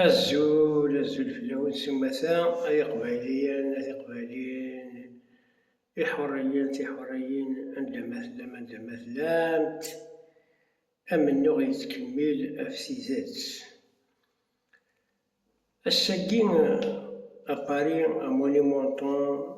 Azul, azul fell-awen s umata, ay iqbayliyen, ay tiqbayliyin, iḥuriyen, tiḥuriyin, anda ma tellam, anda ma tellamt, amennuɣ yettkemmil ɣef tidet. Ass-agi, a Paris, à mon Edmonton,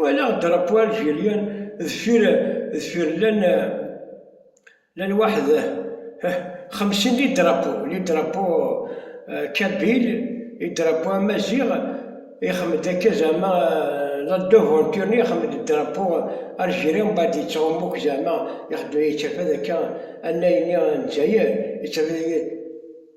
Walaɣ drapeau algérien deffir deffir llan llan waḥed xemsin li drapeau li drapeau kabyle li drapeau amaziɣ ixmed akka zɛma la devanture ni ixmed drapeau algérien mbaɛd yettɛumu akka zɛma ixeddem yettafad akka anay ni n dzayer yettafad.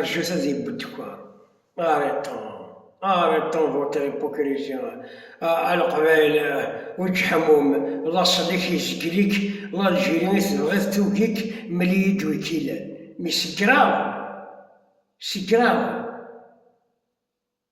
Rjut ad yewwet kwan. Areṭṭun, areṭṭun votre hypocrisie, a Leqbayel uǧeḥmum, laṣel-ik yezgel-ik, l'Algérie i tebɣiḍ tugi-k, mel-iyi-d wi k-ilan. Mais c'est grave! C'est grave!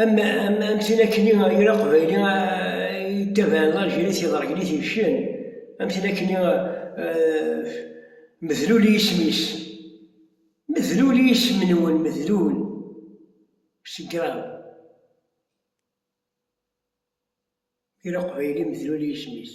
Am tin akken i yal aqbayli yettabaɛen lajiri s iḍergen i t-ibecen, am tin akken i medlul i yisem-is. Medlul i yisem-nwen, medlul, c'est grave. Yal aqbayli medlul i yisem-is.